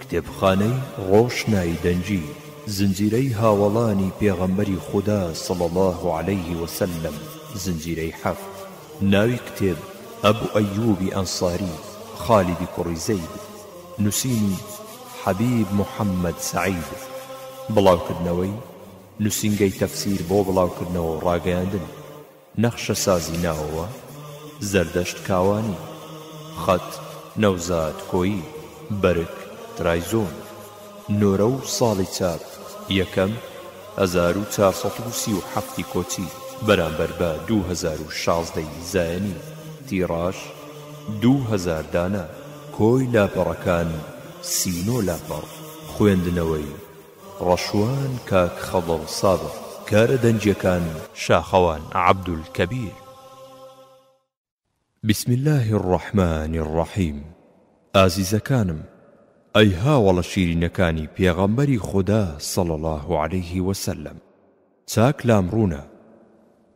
کتێبخانەی ڕۆشنای دەنگی، زنجیرەی هاوەڵانی پێغەمبەری خودا صلی اللە علیە وسلم زنجیرەی حەفت. ناوی کتێب، ابو ایوب انصاری خالد کوڕی زید، نوسینی، حبیب محمد سعید، بڵاوکردنەوەی، نوسینگەی تەفسیر بۆ بڵاوکردنەوە و ڕاگەیاندن. نەخشە سازی ناوەوە، زەردەشت کاوانی، خەت، نەوزاد کۆیی، بەرگ، ترایزۆن، نۆرە و ساڵی چاپ، یەکەم، هەزار و چوار سەد و سی و حەفت ی کۆچی، بەرامبەر بە دوو هەزار و شازدە ی زایەنی، تیڕاژ، دوو هەزار دانە. کۆی لاپەڕەکان، سی و نۆ لاپەڕ، خوێندنەوەی، ڕەشوان کاک خەضر سابق کارە دەنگیەکان. شاخەوان عبدالکبیر. بسم اللە الرحمن الرحیم ئازیزەکانم ئەی هاوەڵە شیرینەکانی پێغەمبەری خودا صلی اللە علیە وسلم چاک لام ڕوونە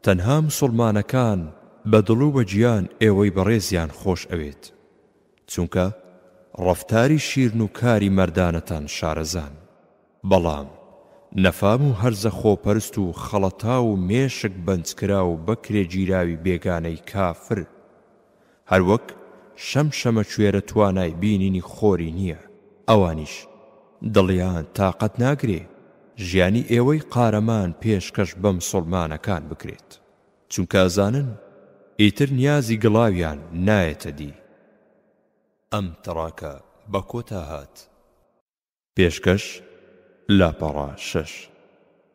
تەنها مسوڵمانەکان بە دڵ و بە گیان ئێوەی بەڕێزیان خۆش ئەوێت چونکە ڕەفتاری شیرن و کاری مەردانەتان شارەزان. بەڵام نەفام و هەرزە خۆپەرست و خەڵەتاو و مێشک بەنجکراو و بەکرێگیراوی بێگانەی کافر، هەروەک شەم شەمەکوێرە توانای بینینی خۆری نییە، ئەوانیش دڵیان تاقەت ناگرێ ژیانی ئێوەی قارەمان پێشکەش بە مسوڵمانەکان بکرێت. چونکە ئەزانن ئیتر نیازی گڵاویان نایەتە دی. ئەم تڕاکە بە کۆتا هات. پێشکەش، لاپەڕە شەش،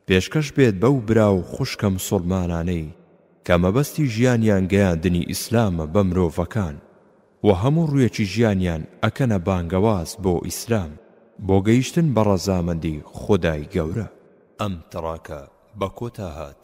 پێشکەش بێت بەو برا و خوشکە مسوڵمانانەی کە مەبەستی ژیانیان گەیاندنی ئیسلامە بە مرۆڤەکان و هەموو ڕویەکی ژیانیان ئەکەنە بانگەواز بۆ ئیسلام بۆ گەیشتن بە ڕەزامەندی خودای گەورە. ئەم تڕاکە بە کۆتا هات.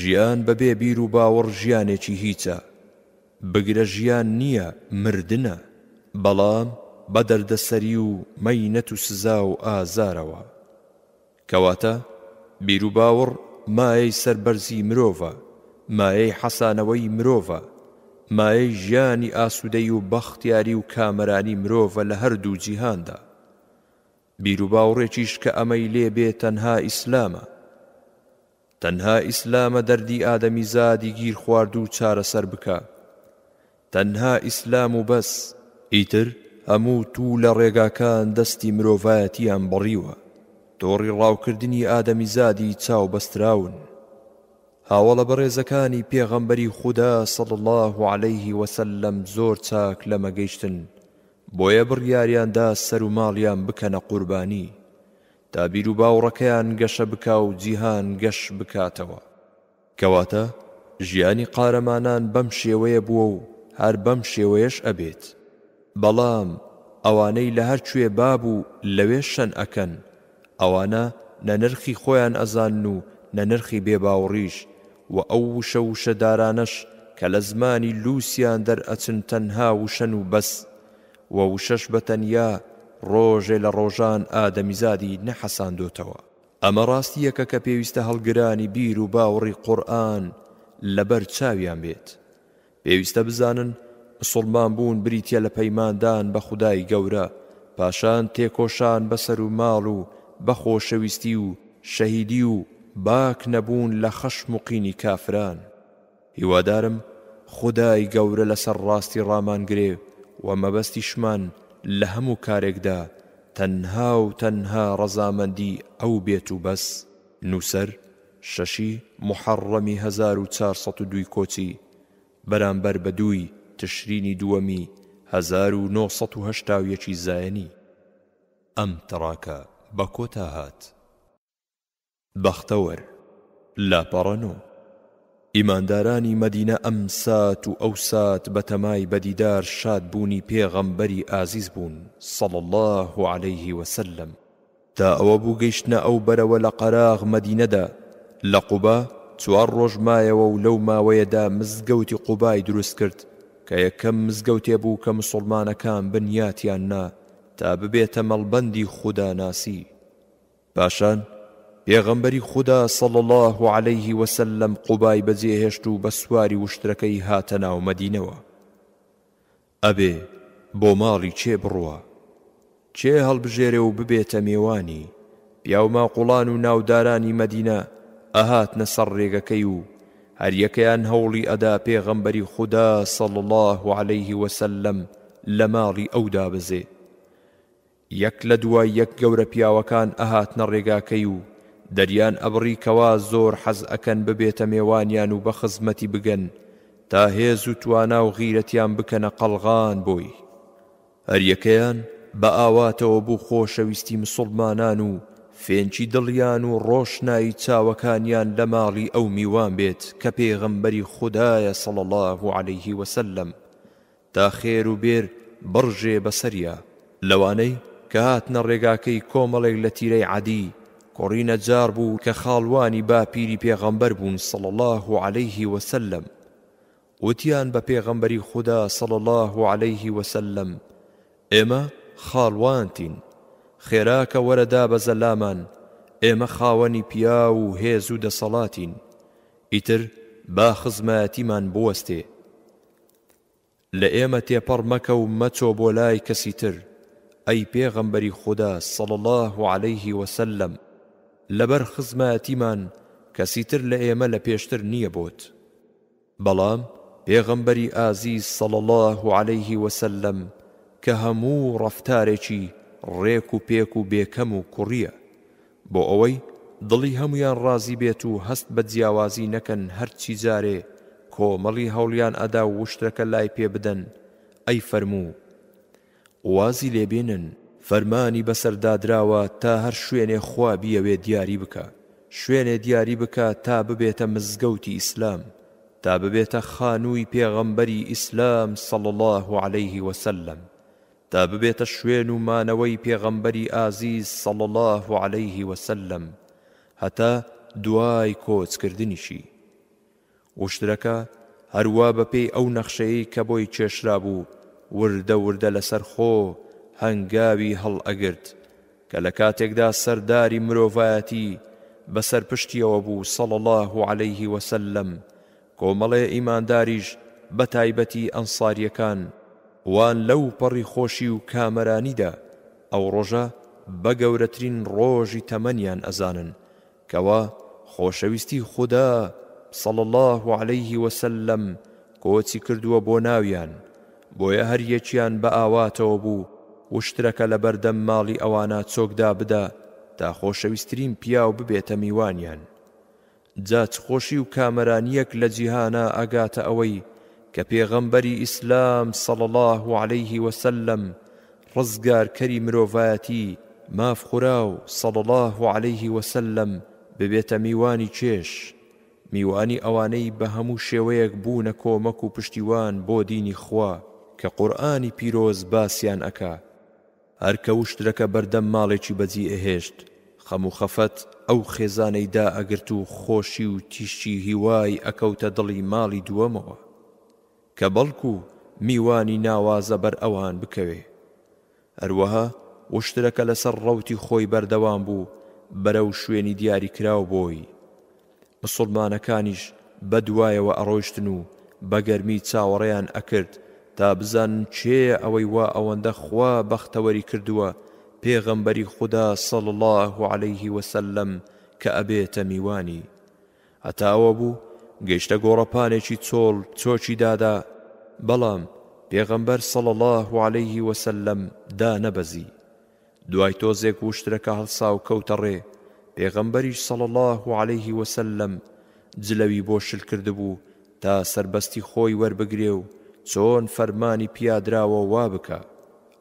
ژیان بە بێ بیر و باوەڕ ژیانێکی هیچە، بگرە ژیان نییە مردنە، بەڵام بە دەردەسەری و مەینەت و سزا و ئازارەوە. کەواتە بیر و باوڕ مایەی سەربەرزی مرۆڤە، مایەی حەسانەوەی مرۆڤە، مایەی ژیانی ئاسوودەی و بەختیاری و کامەرانی مرۆڤە لە هەر دوو جیهاندا. بیر و باوڕێکیش کە ئەمەی لێ بێ تەنها ئیسلامە. تەنها ئیسلامە دەردی ئادەمیزادی گیرخواردوو چارەسەر بکا تەنها ئیسلام و بەس. ئیتر هەموو توو لە ڕێگاکان دەستی مرۆڤایەتیان بڕیوە تۆڕی ڕاوکردنی ئادەمیزادی چاو بەستراون هاوەڵە بەڕێزەکانی پێغەمبەری خودا صلی اللە علیه وسلم زۆر چاک لەمە گەیشتن بۆیە بڕیاریان دا سەروماڵیان بکەنە قوربانی تا بیروباوڕەکەیان گەشە بکا و جیهان گەش بکاتەوە. کەواتە ژیانی قارەمانان بەم شێوەیە بووە و هەر بەم شێوەیەش ئەبێت. بەڵام ئەوانەی لە هەر کوێ با بوو لەوێ شەن ئەکەن، ئەوانە نە نرخی خۆیان ئەزانن و نە نرخی بێباوڕیش و ئەو وشە وشەدارانەش کە لە زمانی لووسیان دەرئەچن تەنها وشەن و بەس وە وشەش بە تەنیا ڕۆژێ لە ڕۆژان ئادەمیزادی نەحەساندۆتەوە. ئەمە ڕاستییەکە کە پێویستە هەڵگرانی بیر و باوڕی قورئان لە بەر چاویان بێت. پێویستە بزانن مسوڵمان بوون بریتیە لە پەیماندان بە خودای گەورە، پاشان تێکۆشان بە سەر و ماڵ و بە خۆشەویستی و شەهیدی و باک نەبوون لە خەشم و قینی کافران. هیوادارم خودای گەورە لەسەر ڕاستی ڕامان گرێ و مەبەستیشمان لە هەموو کارێکدا تەنها و تەنها ڕەزامەندی ئەو بێت و بەس. نووسەر، شەشی موحەڕڕەمی هەزار و چوار سەد و دوو کۆچی، بەرامبەر بە دووی تشرینی دووەمی هەزار و نۆ سەد و هەشتا و یەک ی زایەنی. ئەم تڕاکە بە کۆتا هات. بەختەوەر، لاپەڕە نۆ. ئیماندارانی مەدینە ئەم سات و ئەو سات بە تەمای بە دیدار شاد بوونی پێغەمبەری ئازیز بوون صلی اللە علیه و سلم تا ئەوە بوو گەیشتنە ئەو بەرەوە لە قەراغ مەدینەدا لە قوبا چوار ڕۆژ مایەوە و لەو ماوەیەدا مزگەوتی قوبای دروست کرد کە یەکەم مزگەوتێ بوو کە مسوڵمانەکان بنیاتیان نا تا ببێتە مەڵبەندی خودا ناسی پاشان پێغەمبەری خودا صلی اللە علیە وسلم قوبای بەجێهێشت و بە سواری وشترەکەی هاتە ناو مەدینەوە ئەبێ بۆ ماڵی کێ بڕوا کێ هەڵبژێرێ و ببێتە مێوانی پیاوماقوڵان و ناودارانی مەدینە ئەهاتنە سەر ڕێگەکەی و هەریەکەیان هەوڵی ئەدا پێغەمبەری خودا صلی اللە علیه وسلم لە ماڵی ئەو دابەزێ یەک لە دوای یەک گەورە پیاوەکان ئەهاتنە ڕێگاکەی و دەریان ئەبڕی کەوا زۆر حەز ئەکەن ببێتە مێوانیان و بە خزمەتی بگەن تا هێز و توانا و غیرەتیان بکەنە قەڵغان بۆی هەریەکەیان بە ئاواتەوە بوو خۆشەویستی مسوڵمانان و فێنکی دڵیان و ڕۆشنایی چاوەکانیان لە ماڵی ئەو میوان بێت کە پێغەمبەری خودایە صلی اللە علیه وسلم تا خێر و بێر بڕژێ بەسەریا. لەوانەی کە هاتنە ڕێگاکەی کۆمەڵێک لە تیرەی عەدی کوڕی نەجار بوو کە خاڵوانی باپیری پێغەمبەر بوون صلی اللە علیه وسلم وتیان بە پێغەمبەری خودا صلی اللە علیه وسلم ئێمە خاڵوانتین خێراکە وەرە دابەزە لامان ئێمە خاوەنی پیاو و هێز و دەسەڵاتین ئیتر با خزمایەتیمان بوەستێ لە ئێمە تێپەڕ مەکە و مەچۆ بۆ لای کەسی تر، ئەی پێغەمبەری خودا صلی اللە علیه و سلم، لەبەر خزمایەتیمان کەسی تر لە ئێمە لە پێشتر نییە بۆت. بەڵام پێغەمبەری ئازیز صلی اللە علیه و سلم کە هەموو ڕەفتارێکی ڕێک و پێک و بێ کەم و کوڕییە، بۆ ئەوەی دڵی هەموویان ڕازی بێت و هەست بە جیاوازی نەکەن هەرچی جارێ کۆمەڵی هەوڵیان ئەدا وشترەکە لای پێ بدەن ئەی فەرموو وازی لێ بێنن، فەرمانی بەسەر دادراوە تا هەر شوێنێ خوا بیەوێ دیاری بکا شوێنێ دیاری بکا تا ببێتە مزگەوتی ئیسلام تا ببێتە خانووی پێغەمبەری ئیسلام صلی اللە علیه وسلم تا ببێتە شوێن و مانەوەی پێغەمبەری ئازیز صلی اللە علیه وسلم هەتا دوای کۆچ کردنیشی. وشترەکە هەروا بە پێی ئەو نەخشەیەی کە بۆی کێشرابوو وردە وردە لەسەر خۆ هەنگاوی هەڵ ئەگرت کە لە کاتێکدا سەرداری مرۆڤایەتی بەسەر پشتیەوە بوو صلی اللە علیه وسلم کۆمەڵی ئیمانداریش بە تایبەتی ئەنساریەکان وان لەو پەڕی خۆشی و کامەرانیدا ئەو ڕۆژە بە گەورەترین ڕۆژی تەمەنیان ئەزانن کەوا خۆشەویستی خودا صلی اللە علیه وسلم کۆچی کردووە بۆ ناویان بۆیە هەر یەکیان بە ئاواتەوە بوو وشترەکە لە بەردەم ماڵی ئەوانا چۆک دابدا تا خۆشەویسترین پیاو ببێتە میوانیان جا چ خۆشی و کامەرانیەک لە جیهانا ئەگاتە ئەوەی کە پێغەمبەری ئیسلام صلی اللە علیه وسلم ڕزگارکەری مرۆڤایەتی ماف خوراو صلی اللە علیه وسلم ببێتە میوانی چێژ میوانی ئەوانەی بە هەموو شێوەیەک بوونە کۆمەک و پشتیوان بۆ دینی خوا کە قورئانی پیرۆز باسیان ئەکا. هەر کە وشترەکە بەردەم ماڵێکی بەجی ئەهێشت خەم و خەفەت ئەو خێزانەی دا ئەگرت و خۆشی و تیشکی هیوای ئەکەوتە دڵی ماڵی دووەمەوە کە بەڵکو میوانی ناوازە بەر ئەوان بکەوێ هەروەها وشترەکە لەسەر ڕەوتی خۆی بەردەوام بوو بەرەو شوێنی دیاری کراو بۆی مسوڵمانەکانیش بە دوایەوە ئەڕۆیشتن و بە گەرمی چاوەڕێیان ئەکرد تا بزانن کێیە ئەوەی وا ئەوەندە خوا بەختەوەری کردووە پێغەمبەری خودا صلی اللە علیە وسلم کە ئەبێتە میوانی هەتا ئەوە بوو گەیشتە گۆڕەپانێکی چۆڵ چۆکی دادا بەڵام پێغەمبەر صلی اللە علیە وسلم دانەبەزی دوای تۆزێک وشترەکە هەڵسا و کەوتە ڕێ، پێغەمبەریش صلی اللە علیه وسلم جلەوی بۆ شل کردبوو تا سەربەستی خۆی وەربگرێ و چۆن فەرمانی پیادراوە وا بکا،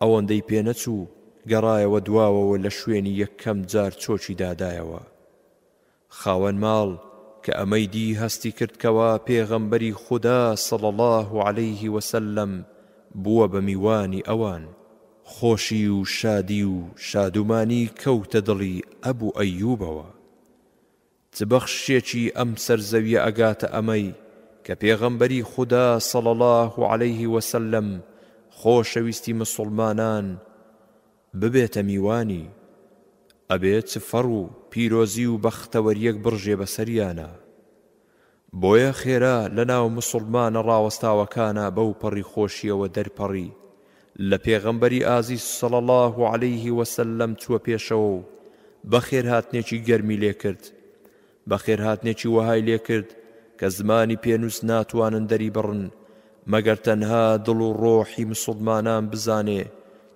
ئەوەندەی پێ نەچوو گەڕایەوە دواوەوە لە شوێنی یەکەم جار چۆکی دادایەوە. خاوەن ماڵ کە ئەمەی دی هەستی کرد کەوا پێغەمبەری خودا صلی اللە علیه وسلم بووە بە میوانی ئەوان خۆشی و شادی و شادومانی کەوتە دڵی ئەبو ئەیوبەوە چ بەخششێکی ئەم سەر زەویە ئەگاتە ئەمەی کە پێغەمبەری خودا صلی اللە علیه وسلم خۆشەویستی مسوڵمانان ببێتە میوانی، ئەبێ چ فەڕ و پیرۆزی و بەختەوەریەک بڕژێ بە سەریانا. بۆیە خێرا لە ناو موسوڵمانە ڕاوەستاوەکانا بەو پەڕی خۆشیەوە دەرپەڕی لە پێغەمبەری ئازیز صلی اللە علیه وسلم چووە پێشەوە و بەخێرهاتنێکی گەرمی لێ کرد بەخێرهاتنێکی وەهای لێ کرد کە زمانی پێنووس ناتوانن دەریبڕن مەگەر تەنها دڵ و ڕۆحی مسوڵمانان بزانێ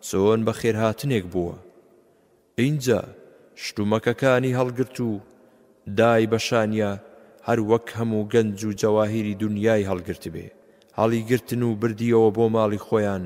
چۆن بەخێرهاتنێک بووە. ئینجا شتومەکەکانی هەڵگرت و دای بە شانیا هەر وەک هەموو گەنج و جەواهیری دونیای هەڵگرتبێ. هەڵیگرتن و بردییەوە بۆ ماڵی خۆیان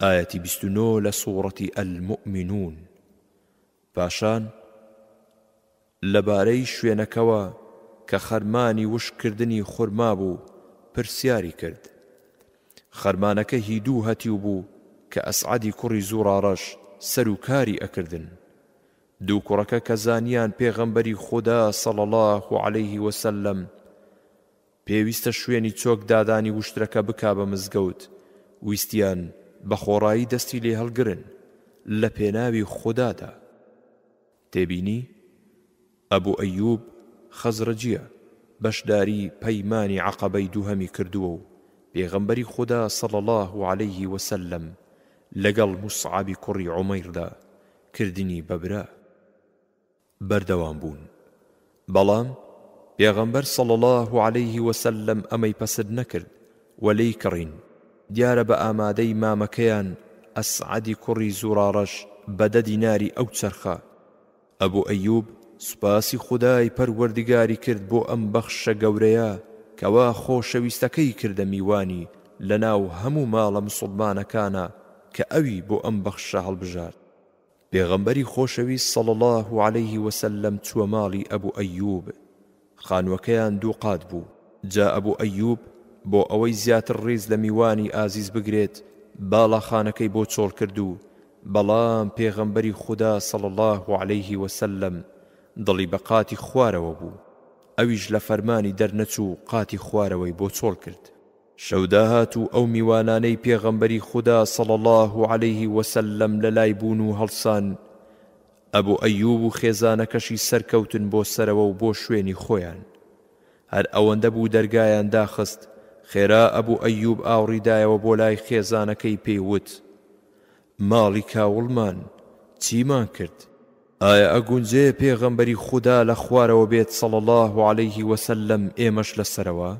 ئایەتی بیست و نۆ لە سوڕەتی الموئمنون پاشان لەبارەی شوێنەکەوە کە خەرمانی وشک کردنی خورما بوو پرسیاری کرد خەرمانەکە هی دوو هەتیو بوو کە ئەسعادی کوڕی زوڕاڕەش سەر و کاری ئەکردن دوو کوڕەکە کە زانیان پێغەمبەری خوددا سەڵ الله عليه وسلم پێویستە شوێنی چۆک دادانی وشترەکە بکا بە مزگەوت ویستیان بە خۆڕایی دەستی لێ هەڵگرن لە پێناوی خودادا. تێبینی، ئەبو ئەیوب خەزرەجیە بەشداری پەیمانی عەقەبەی دووهەمی کردووە و پێغەمبەری خودا صلی اللە علیە وسلم لەگەڵ موسعەبی کوڕی عومەیردا کردنی بە برا. بەردەوام بوون بەڵام پێغەمبەر صلی اللە علیه وسلم ئەمەی پەسد نەکرد و لێی کڕین دیارە بە ئامادەی مامەکەیان ئەسعەدی کوڕی زوڕاڕەش بە دە دیناری ئەو چەرخە ئەبو ئەیوب سوپاسی خودای پەروەردگاری کرد بۆ ئەم بەخششە گەورەیە کەوا خۆشەویستەکەی کردە میوانی لەناو هەموو ماڵە مسوڵمانەکانا کە ئەوی بۆ ئەم بەخششە هەڵبژارد پێغەمبەری خۆشەویست صلی اللە علیە وسلم چووە ماڵی ئەبو ئەیوب، خانووەکەیان دوو قات بوو، جا ئەبو ئەیوب بۆ ئەوەی زیاتر ڕیز لە میوانی ئازیز بگرێت باڵاخانەکەی بۆ چۆڵ کرد و بەڵام پێغەمبەری خودا صلی اللە علیە وسلم دڵی بە قاتی خوارەوە بوو ئەویش لە فەرمانی دەرنەچوو قاتی خوارەوەی بۆ چۆڵ کرد. شەو داهات و ئەو میوانانەی پێغەمبەری خودا صلی اللە علیه وسلم لەلای بوون و هەڵسان، ئەبو ئەیوب و خێزانەکەشی سەرکەوتن بۆ سەرەوە و بۆ شوێنی خۆیان. هەر ئەوەندە بوو دەرگایان داخست، خێرا ئەبو ئەیوب ئاوڕی دایەوە بۆ لای خێزانەکەی پێی وت، ماڵی کاوڵمان چیمان کرد؟ ئایا ئەگونجێ پێغەمبەری خودا لە خوارەوە بێت صلی اللە علیه وسلم ئێمەش لە سەرەوە؟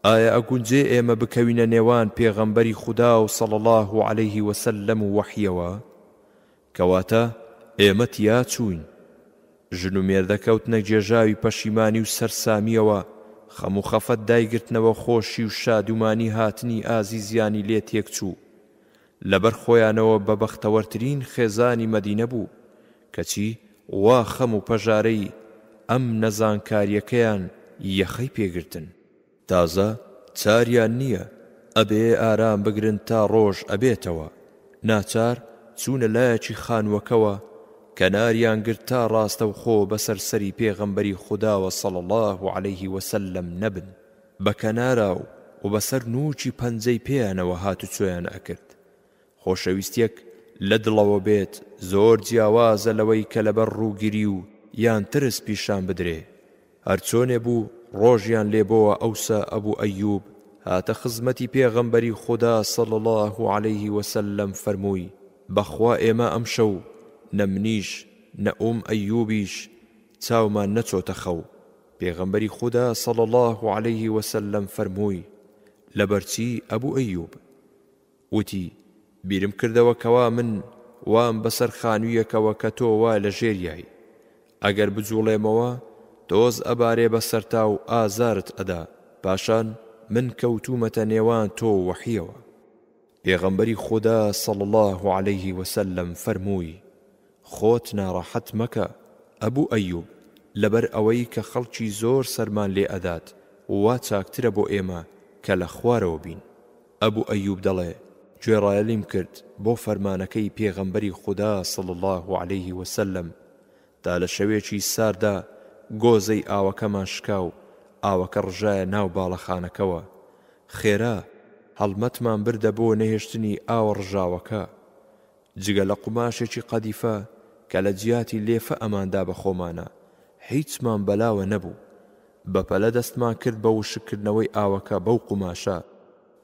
ئایا ئەگونجێ ئێمە بکەوینە نێوان پێغەمبەری خودا و صلی اللە علیه وسلم و وەحیەوە؟ کەواتە ئێمە تیا چووین. ژن و مێردە کەوتنە گێژاوی پەشیمانی و سەرسامیەوە، خەم و خەفەت دایگرتنەوە خۆشی و شادومانی هاتنی ئازیزیانی لێ تێکچوو. لەبەر خۆیانەوە بە بەختەوەرترین خێزانی مەدینە بوو، کەچی وا خەم و پەژارەی ئەم نەزانکاریەکەیان یەخەی پێ گرتن. تازە چاریان نیە ئەبێ ئارام بگرن تا ڕۆژ ئەبێتەوە، ناچار چوونە لایەکی خانووەکەوە کەناریان گرت تا ڕاستەوخۆ بەسەر سەری پێغەمبەری خوداوە صلی اللە علیه وسلم نەبن، بە کەناراو و بە سەر نووکی پەنجەی پێیانەوە هاتوچۆیان ئەکرد. خۆشەویستیەک لە دڵەوە بێت زۆر جیاوازە لەوەی کە لەبەر ڕووگری و یان ترس پیشان بدرێ. هەر چۆنێ بوو ڕۆژیان لێ بۆوە ئەوسا ئەبو ئەیوب هاتە خزمەتی پێغەمبەری خودا صلی اللە علیە وسلم فەرمووی، بەخوا ئێمە ئەمشەو نە منیش نە ئوم ئەیوبیش چاومان نەچۆتە خەو، پێغەمبەری خودا صلی اللە علیه وسلم فەرمووی، لەبەرچی ئەبو ئەیوب؟ وتی، بیرم کردەوە کەوا من وام بەسەر خانویەکەوە کە تۆ وا لەژێریای، ئەگەر بجوڵێمەوە تۆز ئەبارێ بەسەرتا و ئازارت ئەدا، پاشان من کەوتومەتە نێوان تۆ و وەحیەوە. پێغەمبەری خودا صلی اللە علیە وسلم فەرمووی، خۆت ناڕەحەت مەکە ئەبو ئەیوب لەبەر ئەوەی کە خەڵکی زۆر سەرمان لێ ئەدات وا چاکترە بۆ ئێمە کە لە خوارەوە بین، ئەبو ئەیوب دەڵێ، گوێڕایەلیم کرد بۆ فەرمانەکەی پێغەمبەری خودا صلی اللە علیە وسلم دا لە شەوێکی ساردا گۆزەی ئاوەکەمان شکا و ئاوەکە ڕژایە ناو باڵەخانەکەوە. خێرا هەڵمەتمان بردە بۆ نەهێشتنی ئاوە ڕژاوەکە. جگە لە قوماشێکی قەدیفە کە لە جیاتی لێفە ئەماندا بە خۆمانە، هیچمان بەلاوە نەبوو. بە پەلە دەستمان کرد بە وشککردنەوەی ئاوەکە بەو قوماشە،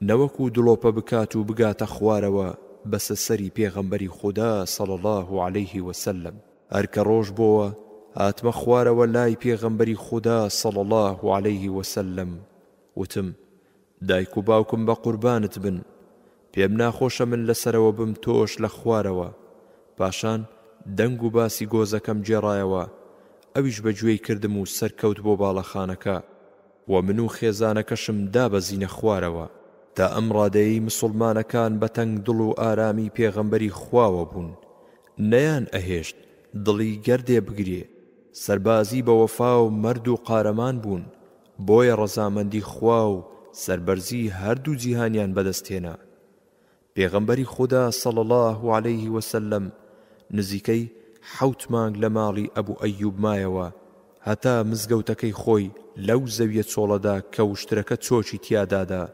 نەوەکو دڵۆپە بکات و بگاتە خوارەوە بەسە سەری پێغەمبەری خودا صلی اللە علیه وسلم. هەر کە ڕۆژ بۆوە هاتمە خوارەوە لای پێغەمبەری خودا صلی اللە علیە وسلم وتم، دایک و باوکم بە قوربانت بن، پێم ناخۆشە من لە سەرەوە بم تۆش لە خوارەوە، پاشان دەنگ و باسی گۆزەکەم گێڕایەوە، ئەویش بە گوێی کردم و سەرکەوت بۆ باڵەخانەکە. و من و خێزانەکەشم دابەزینە خوارەوە. تا ئەم ڕادەیەی مسوڵمانەکان بە تەنگ دڵ و ئارامی پێغەمبەری خواوە بوون، نەیان ئەهێشت دڵی گەردێ بگرێ، سەربازی بە وەفا و مەرد و قارەمان بوون، بۆیە ڕەزامەندی خوا و سەربەرزی هەردوو جیهانیان بەدەست هێنا. پێغەمبەری خودا صلی اللە علیه وسلم نزیکەی حەوت مانگ لە ماڵی ئەبو ئەیوب مایەوە هەتا مزگەوتەکەی خۆی لەو زەویە چۆڵەدا کە وشترەکە چۆکی تیادادا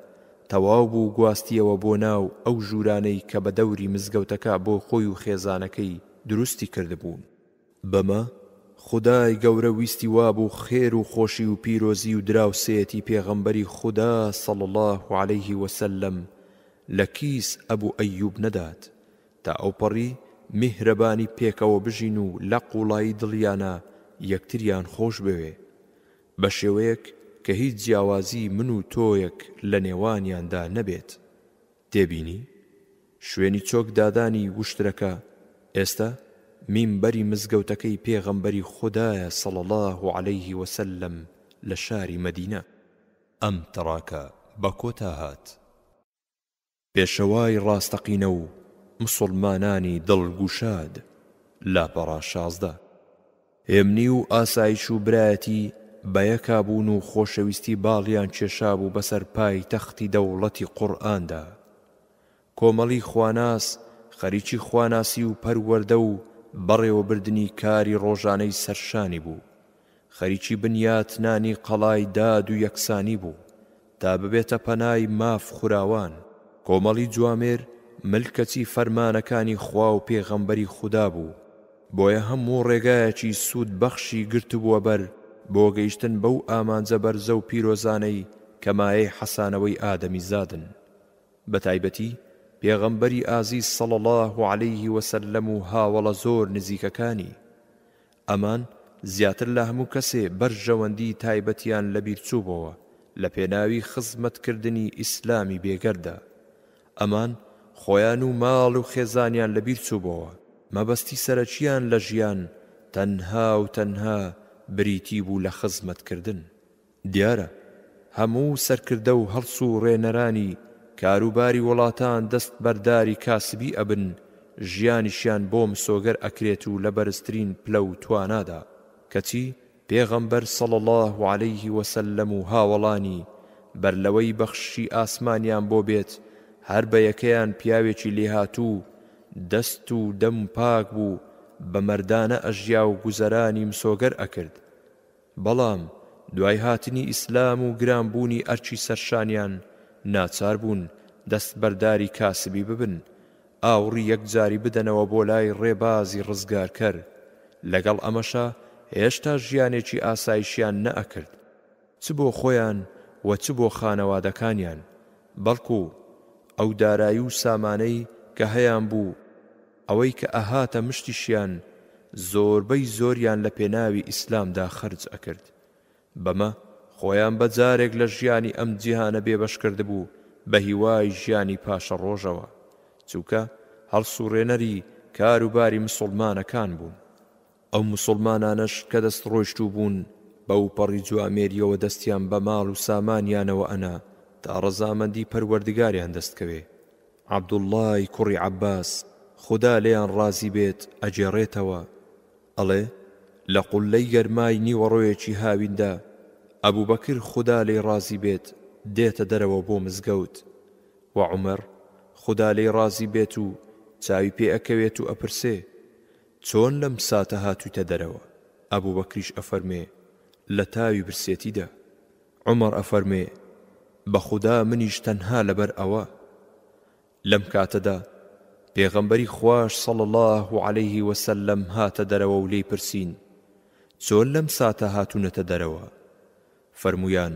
تەواو بوو گواستیەوە بۆ ناو ئەو ژوورانەی کە بە دەوری مزگەوتەکە بۆ خۆی و خێزانەکەی دروستی کردبوون. بەمە خودای گەورە ویستی وابوو خێر و خۆشی و پیرۆزی و دراوسێیەتی پێغەمبەری خودا صلی اللە علیه وسلم لە کیس ئەبو ئەیوب نەدات تا ئەوپەڕی میهرەبانی پێکەوە بژین و لە قوڵایی دڵیانا یەکتریان خۆش بوێ بە شێوەیەک کە هیچ جیاوازی من و تۆیەک لە نێوانیاندا نەبێت. تێبینی، شوێنی چۆک دادانی وشترەکە ئێستا مینبەری مزگەوتەکەی پێغەمبەری خودایە صلی اللە علیە وسلم لە شاری مەدینە. ئەم تڕاکە بە کۆتا هات. پێشەوای ڕاستەقینە و مسوڵمانانی دڵ گوشاد، لاپەڕە شازدە. ئەمنی و ئاسایش و برایەتی بەیەکا بوون و خۆشەویستی باڵیان کێشابوو بەسەر پایتەختی دەوڵەتی قورئاندا. کۆمەڵی خواناس خەریکی خواناسی و پەروەردە و بەڕێوەبردنی کاری ڕۆژانەی سەرشانی بوو، خەریکی بنیاتنانی قەڵای داد و یەکسانی بوو، تا ببێتە پەنای ماف خوراوان. کۆمەڵی جوامێر ملکەچی فەرمانەکانی خوا و پێغەمبەری خودا بوو، بۆیە هەموو ڕێگایەکی سوود بەخشی گرتبووە بەر بۆ گەیشتن بەو ئامانجە بەرزە و پیرۆزانەی کە مایەی حەسانەوەی ئادەمیزادن. بەتایبەتی پێغەمبەری ئازیز صلی اللە علیه وسلم و هاوەڵە زۆر نزیکەکانی. ئەمان زیاتر لە هەموو کەسێ بەرژەوەندیی تایبەتیان لەبیرچووبۆوە لە پێناوی خزمەتکردنی ئیسلامی بێگەرددا. ئەمان خۆیان و ماڵ و خێزانیان لەبیرچووبۆوە، مەبەستی سەرەکییان لە ژیان تەنها و تەنها بریتی بوو لە خزمەتکردن. دیارە هەموو سەرکردە و هەڵسوڕێنەرانی کاروباری وڵاتان دەست بەرداری کاسبی ئەبن ژیانیشیان بۆ مسۆگەر ئەکرێت و لە بەرزترین پلە و توانادا کەچی پێغەمبەر صلی اللە علیه وسلم و هاوەڵانی بەر لەوەی بەخششی ئاسمانیان بۆ بێت هەر بە یەکەیان پیاوێکی لێهاتوو دەست و دەم پاک بوو بە مەردانە ئەژیا و گوزەرانی مسۆگەر ئەکرد بەڵام دوای هاتنی ئیسلام و گران بوونی ئەرکی سەرشانیان ناچار بوون دەست بەرداری کاسبی ببن ئاوڕی یەکجاری بدەنەوە بۆ لای ڕێبازی ڕزگارکەر لەگەڵ ئەمەشا هێشتا ژیانێکی ئاسایشیان نەئەکرد چ بۆ خۆیان و چ بۆ خانەوادەکانیان بەڵکو ئەو دارایی و سامانەی کە هەیانبوو ئەوەی کە ئەهاتە مشتیشیان زۆربەی زۆریان لە پێناوی ئیسلامدا خەرج ئەکرد بەمە خۆیان بە جارێک لە ژیانی ئەم جیهانە بێبەش کردبوو بە هیوای ژیانی پاشەڕۆژەوە چونکە هەڵسوڕێنەری کاروباری مسوڵمانەکان بوون. ئەو موسوڵمانانەش کە دەست ڕۆیشتوو بوون بەوپەڕی جوامێریەوە دەستیان بە ماڵ و سامانیانەوە ئەنا تا ڕەزامەندی پەروەردگاریان دەست کەوێ عبداللەی کوڕی عباس خودا لێیان ڕازی بێت ئەگێڕێتەوە ئەڵێ لە قوللەی گەرمای نیوەڕۆیەکی هاویندا ئەبوبەکر خودا لێی ڕازی بێت دێتە دەرەوە بۆ مزگەوت وە عومەر خودا لێی ڕازی بێت و چاوی پێ ئەکەوێت و ئەپرسێ چۆن لەم ساتە هاتوویتە دەرەوە؟ ئەبوبەکریش ئەفەرموێ، لە تاوی برسێتیدا. عومەر ئەفەرموێ، بە خودا منیش تەنها لەبەر ئەوە. لەم کاتەدا پێغەمبەری خواش صلی اللە علیە وسلم هاتە دەرەوەو لێی پرسین، چۆن لەم ساتە هاتونەتە دەرەوە؟ فەرموویان،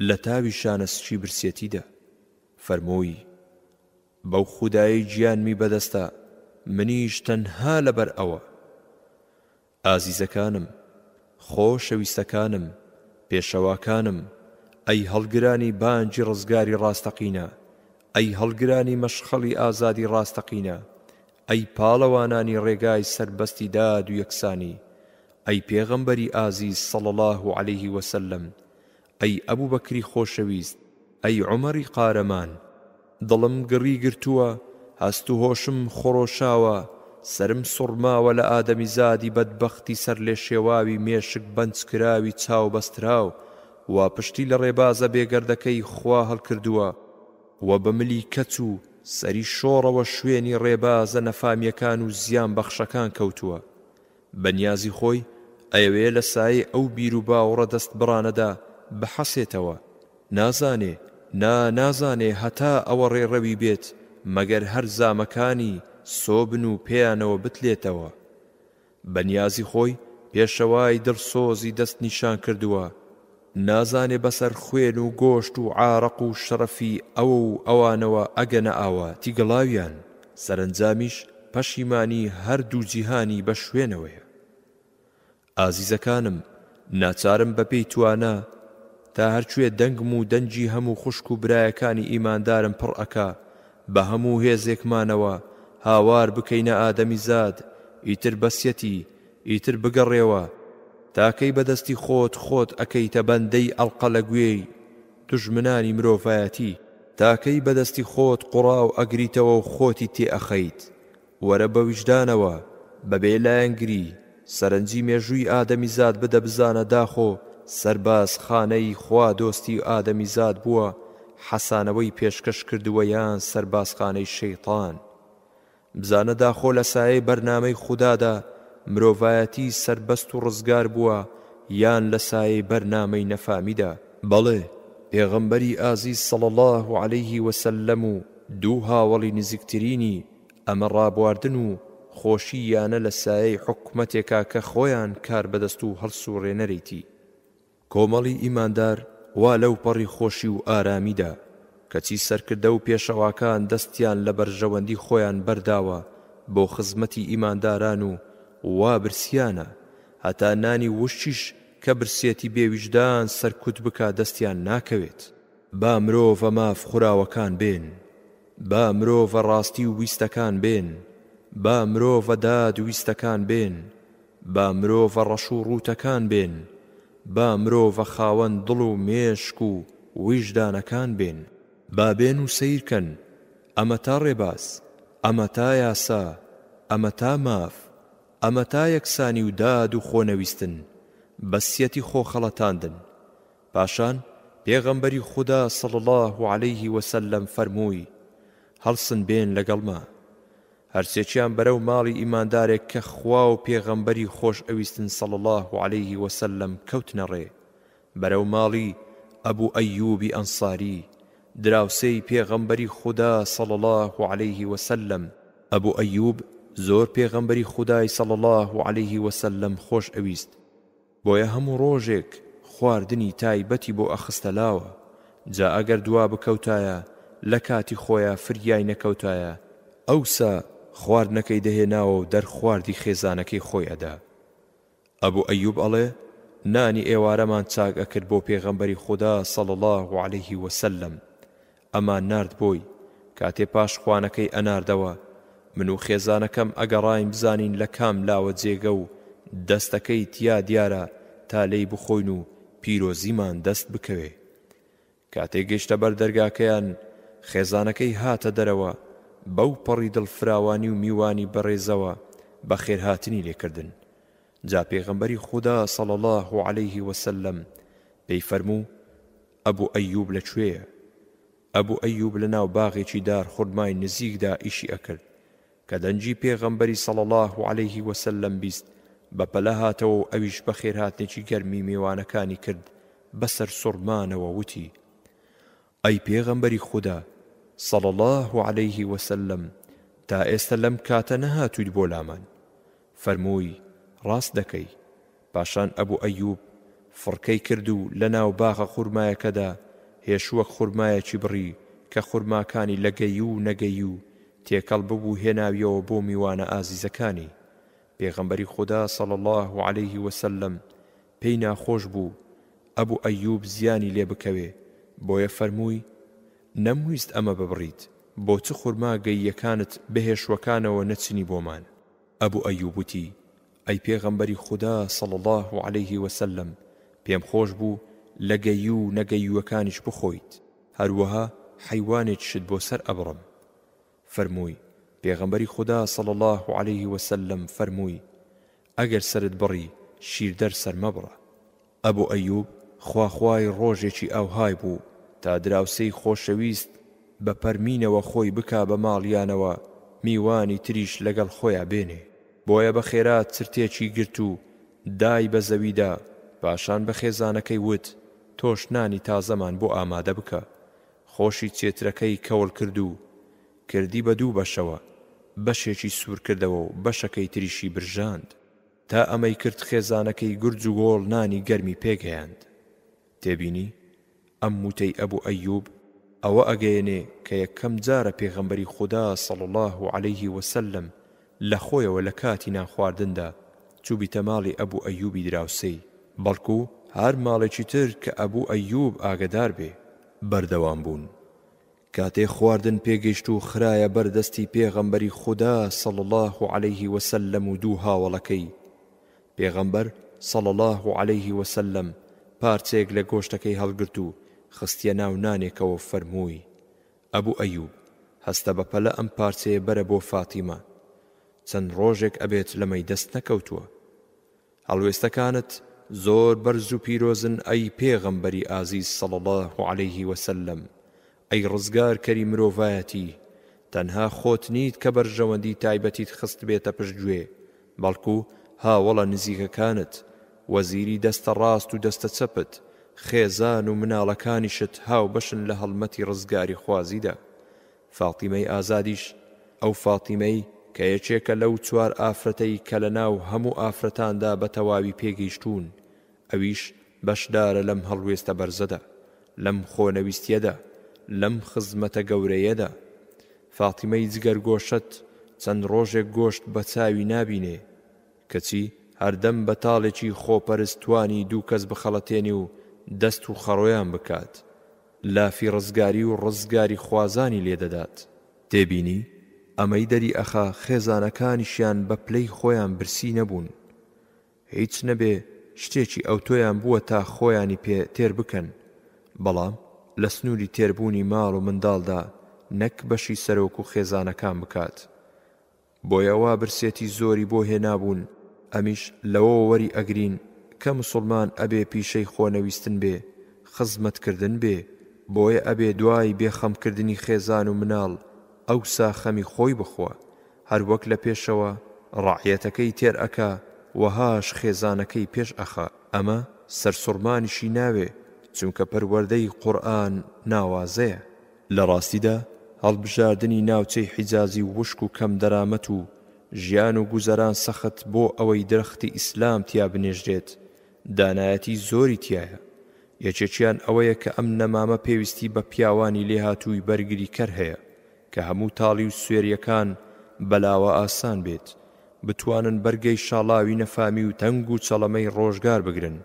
لە تاوی شانە سکی برسێتیدا. فەرمووی، بەو خودایەی گیانمی بەدەستە منیش تەنها لەبەر ئەوە. ئازیزەکانم، خۆشەویستەکانم، پێشەواکانم، ئەی هەڵگرانی بانگی ڕزگاری ڕاستەقینە، ئەی هەڵگرانی مەشخەڵی ئازادی ڕاستەقینە، ئەی پاڵەوانانی ڕێگای سەربەستی داد و یەکسانی، ئەی پێغەمبەری ئازیز صلی اللە علیه وسلم، ئەی ئەبوبەکری خۆشەویست، ئەی عومەری قارەمان! دڵم گڕی گرتووە، هەست و هۆشم خڕۆشاوە، سەرم سوڕماوە لە ئادەمیزادی بەدبەختی سەرلێشێواوی مێشک بەنجکراوی چاوبەستراو وا پشتی لە ڕێبازە بێگەردەکەی خوا هەڵکردووە و بە ملی کەچ و سەری شۆڕەوە شوێنی ڕێبازە نەفامیەکان و زیانبەخشەکان کەوتووە بەنیازی خۆی ئەیەوێ لە سایەی ئەو بیروباوڕە دەستبڕانەدا بحەسێتەوە، نازانێ، نا نازانێ هەتا ئەوە ڕێڕەوی بێت مەگەر هەر زامەکانی سۆبن و پێیانەوە بتلێتەوە. بەنیازی خۆی پێشەوای دڵسۆزی دەستنیشانکردووە. نازانێ بەسەر خوێن و گۆشت و عارەق و شەرەفی ئەو و ئەوانەوە ئەگەنە ئاواتی گڵاویان، سەرەنجامیش پەشیمانی هەر دوو جیهانی بە شوێنەوەیە. ئازیزەکانم ناچارم بە پێی توانا تا هەر کوێ دەنگم و دەنگی هەموو خوشک و برایەکانی ئیماندارم پڕ ئەکا بە هەموو هێزێکمانەوە هاوار بکەینە ئادەمیزاد ئیتر بەسیەتی ئیتر بگەڕێوە تاکەی بەدەستی خۆت خۆت ئەکەیتە بەندەی ئەڵقە لە گوێی دوژمنانی مرۆڤایەتی تاکەی بەدەستی خۆت قوڕاو ئەگریتەوەو خۆتی تێ ئەخەیت وەرە بەویژدانەوە بەبێ لایەنگری سەرنجی مێژووی ئادەمیزاد بدە بزانە داخۆ سەرباز خانەی خوا دۆستی ئادەمیزاد بووە حەسانەوەی پێشکەش کردووە یان سەربازخانەی شەیتان بزانە داخۆ لە سایەی بەرنامەی خودادا مرۆڤایەتی سەربەست و ڕزگار بووە یان لە سایەی بەرنامەی نەفامیدا؟ بەڵێ، پێغەمبەری ئازیز صلی اللە علیه و سلم و دوو هاوەڵی نزیکترینی، ئەمە ڕابواردن و خۆشی یانە لە سایەی حکومەتێکا کە خۆیان کاربەدەست و هەڵسوڕێنەرێتی. کۆمەڵی ئیماندار وا لەوپەڕی خۆشی و ئارامیدا، کەچی سەرکردە و پێشەواکان دەستیان لە بەرژەوەندی خۆیان بەرداوە بۆ خزمەتی ئیمانداران و وا برسیانە هەتا نانی وشکیش کە برسێتی بێ ویژدان سەرکوت بکا دەستیان ناکەوێت. با مرۆڤە ماف خوراوەکان بێن، با مرۆڤە ڕاستی و ویستەکان بێن، با مرۆڤە داد ویستەکان بێن، با مرۆڤە ڕەش و ڕووتەکان بێن، با مرۆڤە خاوەن دڵ و مێشک و ویژدانەکان بێن. با بێن و سەیر کەن، ئەمەتا ڕێباز، ئەمەتا یاسا، ئەمەتا ماف، ئەمەتا یەکسانی و داد و خۆنەویستن، بەسیەتی خۆخەڵەتاندن. پاشان پێغەمبەری خودا صلی اللە علیه و سلم فەرمووی، هەڵسن بێن لەگەڵما. هەرسێکیان بەرەو ماڵی ئیماندارێک کە خوا و پێغەمبەری خۆش ئەویستن صلی اللە علیه و سلم کەوتنە ڕێ، بەرەو ماڵی، ابو ایوب انصاری، دراوسێی پێغەمبەری خودا صلی اللە علیه و سلم، ابو ایوب زۆر پێغەمبەری خودای صلی اللە علیه و سلم خۆش ئەویست، بۆیە هەموو ڕۆژێک خواردنی تایبەتی بۆ ئەخستە لاوە جا ئەگەر دوا بکەوتایە لە کاتی خۆیا فریای نەکەوتایە ئەوسا خواردنەکەی دەهێناوەو دەرخواردی خێزانەکەی خۆی ئەدا ئەبو ئەیوب ئەڵێ نانی ئێوارەمان چاک ئەکرد بۆ پێغەمبەری خودا صلی اللە علیه وسلم ئەمان نارد بۆی، کاتێ پاش خوانەکەی ئەناردەوە، من و خێزانەکەم ئەگەڕاین بزانین لە کام لاوە جێگە و دەستەکەی تیا دیارە تا لێی بخۆین و پیرۆزیمان دەست بکەوێ. کاتێ گەشتە بەر دەرگاکەیان، خێزانەکەی هاتە دەرەوە، بەو پەڕی دڵ فراوانی و میوانی بەڕێزەوە بە خێرهاتنی لێ کردن. جا پێغەمبەری خودا صلی اللە علیه و سلم پێی فەرموو، ئەبو ئەیوب لە کوێیە؟ ئەبو ئەیوب لە ناو باغێکی دار خورمای نزیکدا ئیشی ئەکرد، کە دەنگی پێغەمبەری صلی اللە علیه وسلم بیست بە پەلە هاتەوە و ئەویش بەخێرهاتنێکی گەرمی مێوانەکانی کرد بە سەرسوڕمانەوە وتی، ئەی پێغەمبەری خودا، صلی اللە علیه وسلم، تا ئێستە لەم کاتە نەهاتوویت بۆ لامان؟ فەرمووی، ڕاست دەکەی، پاشان ئەبو ئەیوب فڕکەی کرد و لەناو باغە خورمایەکەدا هێشووەک خورمایەکی بڕی کە خورماکانی لە گەیوو و نەگەیوو تێکەڵ ببوو هێناویەوە بۆ میوانە ئازیزەکانی، پێغەمبەری خودا صلی اللە علیه وسلم پێی ناخۆش بوو ئەبو ئەیوب زیانی لێ بکەوێ بۆیە فەرمووی، نەمویست ئەمە ببڕیت، بۆ چ خورما گەییەکانت بە هێشووەکانەوە نەچنی بۆمان؟ ئەبو ئەیوب وتی، ئەی پێغەمبەری خودا صلی اللە علیە وسلم پێم خۆش بوو لە گەییو و نەگەییوەکانیش بخۆیت هەروەها حەیوانێکیشت بۆ سەر ئەبڕم فەرمووی، پێغەمبەری خودا صلی اللە علیە وسلم فەرمووی، ئەگەر سەرت بڕی شیردەر سەر مەبڕە. ئەبو ئەیوب خوا خوای ڕۆژێکی ئاوهای بوو تا دراوسێی خۆشەویست بە پەرمینەوە خۆی بکا بە ماڵیانەوە میوانی تریش لەگەڵ خۆیا بێنێ بۆیە بە خێرا چرتێکی گرت و دای بە زەویدا پاشان بە خێزانەکەی وت تۆش نانی تازەمان بۆ ئامادە بکە خۆشی چێترەکەی کەوڵ کرد و کردی بە دوو بەشەوە بەشێکی سوور کردەوە و بەشەکەی تریشی برژاند. تا ئەمەی کرد خێزانەکەی گرج و گۆڵ نانی گەرمی پێگەیاند. تێبینی، ئەم وتەی ئەبو ئەیوب ئەوە ئەگەیەنێ کە یەکەم جارە پێغەمبەری خودا صلی اللە علیە وسلم لە خۆیەوە لە کاتی نان خواردندا چوبیتە ماڵی ئەبو ئەیوبی دراوسێی بەڵکو هەر ماڵێکی تر کە ئەبو ئەیوب ئاگەدار بێ بەردەوام بوون کاتێ خواردن پێگەیشت و خرایە بەر دەستی پێغەمبەری خودا صلی اللە علیه وسلم و دوو هاوەڵەکەی، پێغەمبەر صلی اللە علیه وسلم پارچەیەک لە گۆشتەکەی هەڵگرت و خستیە ناو نانێکەوە و فەرمووی، ئەبو ئەیوب هەستە بە پەلە ئەم پارچەیە بەرە بۆ فاتیمە، چەند ڕۆژێک ئەبێت لەمەی دەست نەکەوتووە. هەڵوێستەکانت زۆر بەرز و پیرۆزن ئەی پێغەمبەری ئازیز صلی اللە علیە وسلم ئەی ڕزگارکەری مرۆڤایەتی تەنها خۆت نیت کە بەرژەوەندی تایبەتیت خستبێتە پشت گوێ بەڵکو هاوەڵە نزیکەکانت وەزیری دەستە ڕاست و دەستە چەپت خێزان و مناڵەکانیشت هاوبەشن لە هەڵمەتی ڕزگاریخوازیدا فاتیمەی ئازادیش، ئەو فاتیمەی کە یەکێکە لەو چوار ئافرەتەی کە لە ناو هەموو ئافرەتاندا بە تەواوی پێگەیشتوون، ئەویش بەشدارە لەم هەڵوێستە بەرزەدا، لەم خۆنەویستییەدا، لەم خزمەتە گەورەیەدا. فاتیمەی جگەرگۆشەت چەند ڕۆژێک گۆشت بە چاوی نابینێ، کەچی هەردەم بە تاڵێکی خۆپەرست توانی دوو کەس بخەڵەتێنێ و دەست و خەڕۆیان بکات، لافی ڕزگاری و ڕزگاری خوازانی لێ دەدات. تێبینی، ئەمەی دەری ئەخا خێزانەکانیشیان بە پلەی خۆیان برسی نەبوون. هیچ نەبێ شتێکی ئەوتۆیان بووە تا خۆیانی پێ تێر بکەن، بەڵام لە سنووری تێربوونی ماڵ و منداڵدا نەک بەشی سەرۆک و خێزانەکان بکات. بۆیە وا برسێتی زۆری بۆ هێنابوون ئەمیش لەوەوە وەری ئەگرین کە مسوڵمان ئەبێ پیشەی خۆنەویستن بێ خزمەت کردن بێ بۆیە ئەبێ دوای بێ خەم کردنی خێزان و مناڵ ئەوسا خەمی خۆی بخوا هەر وەک لە پێشەوە ڕەعیەتەکەی تێر ئەکا وەهاش خێزانەکەی پێش ئەخا ئەمە سەرسوڕمانیشی ناوێ چونکە پەروەردەی قورئان ناوازەیە. لە ڕاستیدا هەڵبژاردنی ناوچەی حیجازی وشک و کەم دەرامەت و ژیان و گوزەران سەخت بۆ ئەوەی درەختی ئیسلام تیا بنێژرێت دانایەتی زۆری تیایە یەکێکیان ئەوەیە کە ئەم نەمامە پێویستی بە پیاوانی لێهاتووی بەرگریکەر هەیە کە هەموو تاڵی و سوێریەکان بەلاوە ئاسان بێت بتوانن بەرگەی شاڵاوی نەفامی و تەنگ و چەڵەمەی ڕۆژگار بگرن